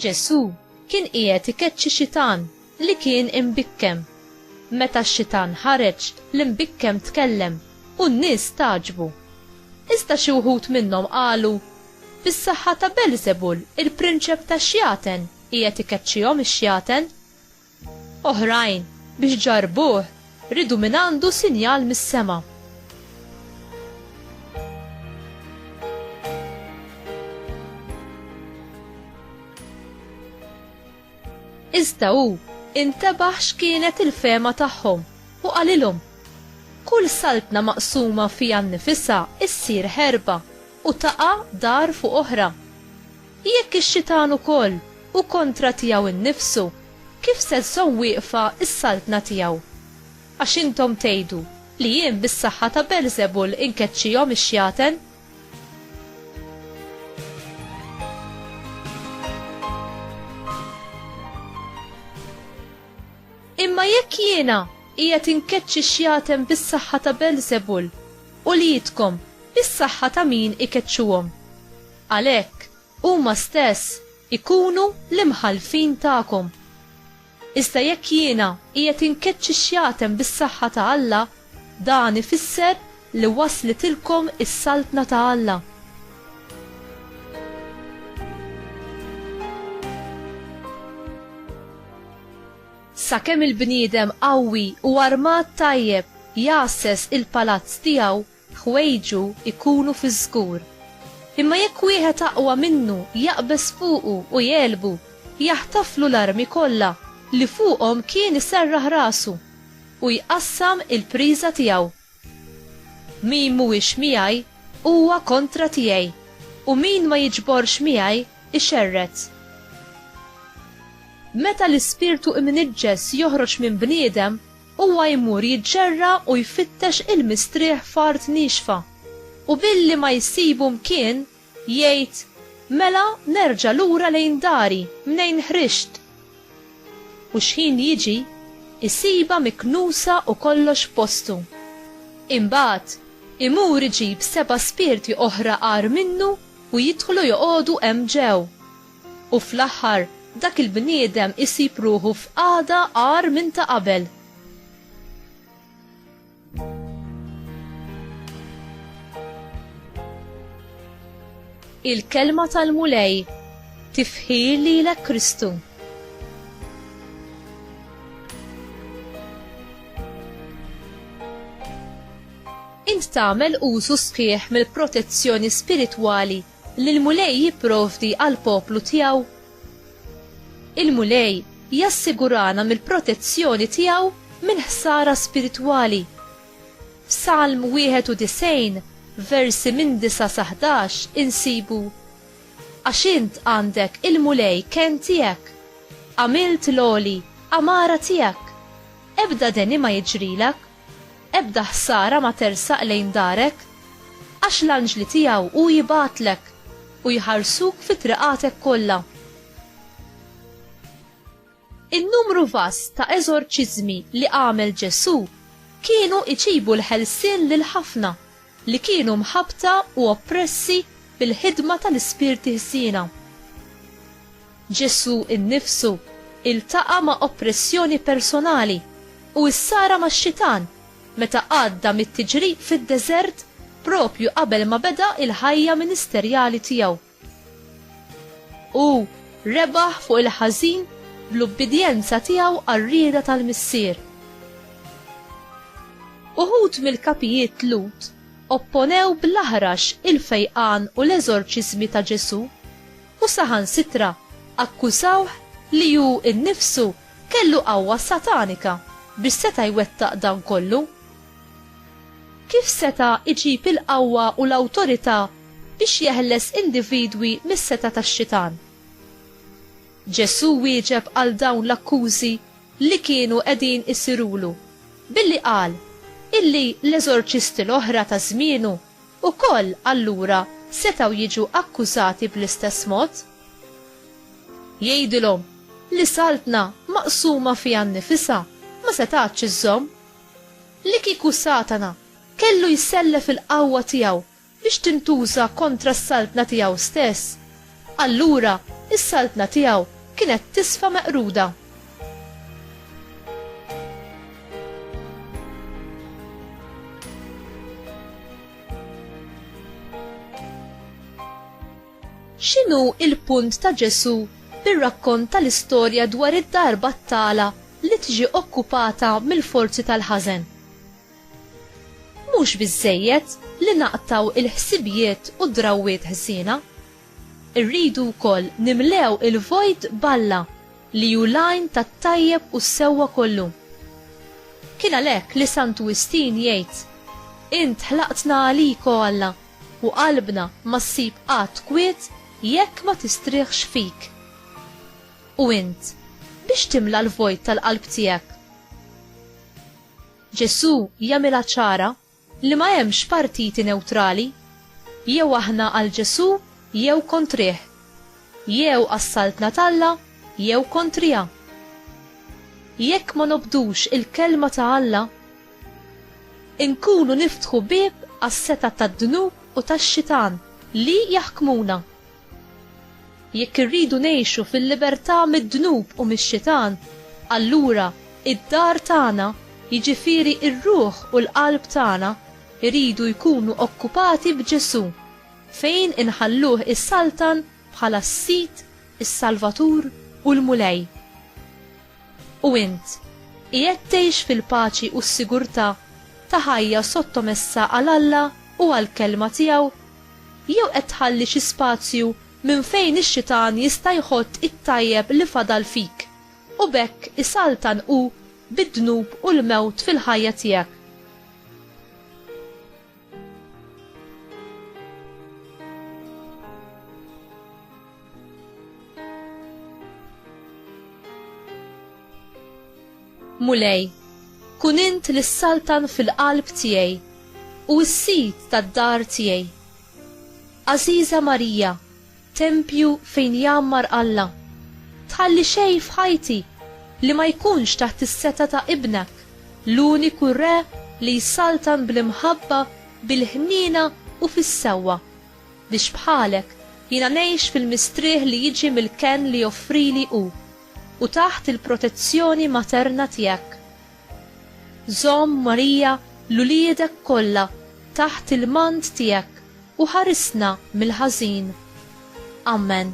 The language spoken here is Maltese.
Ġesù kien qiegħed ikeċċi xitan li kien imbikkem. Meta x-xitan ħareġ, l-imbikkem tkellem u n-nies tagħġbu. Iżda xi wħud minnhom qalu, Bis-saħħa ta' Belżebul, il-prinċep tax-xjaten, qiegħed ikeċċihom ix-xjaten. Oħrajn, biex ġarrbuh, riedu mingħandu sinjal mis-sema. Iżda hu intebaħ x'kienet il-fehma tagħhom u qalilhom, Kull saltna maqsuma fiha nnifisha ssir ħerba. u taqa' dar fuq oħra. Jekk ix-xitan ukoll hu kontra tiegħu nnifsu, kif se żżomm wieqfa s-saltna tiegħu? Għax intom tgħidu li jien bis-saħħa ta' Beelzebul inkeċċihom ix-xjaten. Imma jekk jiena qiegħed inkeċċi x-xjaten bis-saħħa ta' Beelzebul, Uliedkom, bis-saħħa ta' min ikeċċuhom. Għalhekk, huma stess ikunu l-imħallfin tagħkom. Iżda jekk jiena qiegħed inkeċċi xjatem bis-saħħa ta' Alla, dan ifisser li waslitilkom is-Saltna ta' Alla. Sakemm il-bniedem qawwi u armat tajjeb jgħasses il-palazz tiegħu, ħwejġu jkunu fiż-żgur. Imma jekk wieħed aqwa minnu jaqbeż fuqu u jegħlbu, jaħtaflu l-armi kollha li fuqhom kien iserraħ rasu, u jqassam il-priża tiegħu. Min mhuwiex miegħi huwa kontra tiegħi, u min ma jiġborx miegħi ixerred. Meta l-ispirtu imniġġes joħroġ minn bniedem, huwa jmur jiġġerra u jfittex il-mistrieħ f'art niexfa, u billi ma jsibu mkien, Jgħid, Mela nerġa' lura lejn dari mnejn ħriġt. U xħin jiġi, isibha miknusa u kollox f'postu. Imbagħad, imur iġib seba' spirti oħra agħar minnu u jidħlu joqogħdu hemm ġew. U fl-aħħar dak il-bniedem isib ruħu f'qagħda agħar minn ta' qabel. Il-kelma tal-Mulej tifħir lilek Kristu. Int tagħmel użu sħiħ mill-protezzjoni spiritwali Li l-Mulej jipprovdi għall-poplu tiegħu. Il-Mulej jassigurana mill-protezzjoni tiegħu minn ħsara spiritwali. F'Salm 91, versi minn 9 sa 11 insibu, Għax int għandek il-Mulej kenn tiegħek, għamilt l-għoli għamara tiegħek, ebda deni ma jiġrilek. Ebda ħsara ma tersaq lejn darek, għax l-anġli tiegħu hu jibgħatlek, u jħarsuk fi triqatek kollha. In-numru vast ta' eżorċiżmi li għamel Ġesù kienu jġibu l-ħelsien lil ħafna li kienu mħabbta u oppressi bil-ħidma tal-ispirti ħsiena. Ġesù nnifsu iltaqa' ma' oppressjoni personali u issara max-Xitan meta għadda mit-tiġrib fid-deżert propju qabel ma beda l-ħajja ministerjali tiegħu. U rebaħ fuq il-ħażin bl-ubbidjenza tiegħu għar-rieda tal-Missier. Uħud mill-kapijiet Lut opponew bl-aħrax il-fejqan u l-eżorċiżmi ta' Ġesù u saħansitra akkużawh li hu nnifsu kellu qawwa satanika biex seta' jwettaq dan kollu. Kif seta' jġib il-qawwa u l-awtorità biex jeħles individwi mis-setgħa tax-Xitan. Ġesù wieġeb għal dawn l-akkużi li kienu qegħdin isirulu billi qal illi l-eżorċisti l-oħra ta' żmienu wkoll allura setgħu jiġu akkużati bl-istess mod. Jgħidilhom li saltna maqsuma fiha nnifisha ma setgħatx iżżomm. Li kieku Satana kellu jsellef il-qawwa tiegħu biex tintuża kontra s-saltna tiegħu stess, allura s-saltna tiegħu kienet tisfa meqruda. X'inhu l-punt ta' Ġesù bir-rakkont tal-istorja dwar id-dar battala li tiġi okkupata mill-forzi tal-ħażen? Mhux biżżejjed li naqtgħu il-ħsibijiet u d-drawwiet ħżiena. Irridu wkoll nimlew il-vojt b'Alla li hu l-għajn tat-tajjeb u s-sewwa kollu. Kien għalhekk li Santu Wistin jgħid, Int ħlaqtna għalik, o Alla, u qalbna ma ssib qatt kwiet jekk ma tistrieħx fik. U int, biex timla l-vojt tal-qalb tiegħek? Ġesù jagħmilha ċara li ma hemmx partiti newtrali, jew aħna għal Ġesù jew kontrih, jew għas-Saltna t'Alla jew kontriha. Jekk ma nobdux il-Kelma ta' Alla, inkunu niftħu bieb għas-setgħat tad-dnub u tax-xitan li jaħkmuna. Jekk irridu ngħixu fil-libertà mid-dnub u mix-xitan, allura id-dar tagħna, jiġifieri r-ruħ u l-qalb tagħna, iridu jkunu okkupati b'Ġesù, fejn inħalluh isaltan bħala s-Sid, is-Salvatur u l-Mulej. U int, qiegħed tgħix fil-paċi u s-sigurtà ta' ħajja sottomessa għal Alla u għall-Kelma tiegħu? Jew qed tħalli xi spazju minn fejn ix-xitan jista' jħott it-tajjeb li fadal fik, u b'hekk isaltan hu bid-dnub u l-mewt fil-ħajja tiegħek? Mulej, kun int li saltan fil-qalb tiegħi u s-sid tad-dar tiegħi. Aziza Marija, Tempju fejn jgħammar Alla. Tħalli xejn f'ħajti li ma jkunx taħt is-setgħa ta' Ibnek, l-uniku Re li jsaltan bl-imħabba, bil-ħniena u fis-sewwa, biex bħalek jiena ngħix fil-mistrieħ li jiġi mill-kenn li joffrili hu, u taħt il-protezzjoni materna tiegħek, Żomm, Marija, 'l uliedek kollha taħt il-mant tiegħek u ħarisna mill-ħażin. Amen.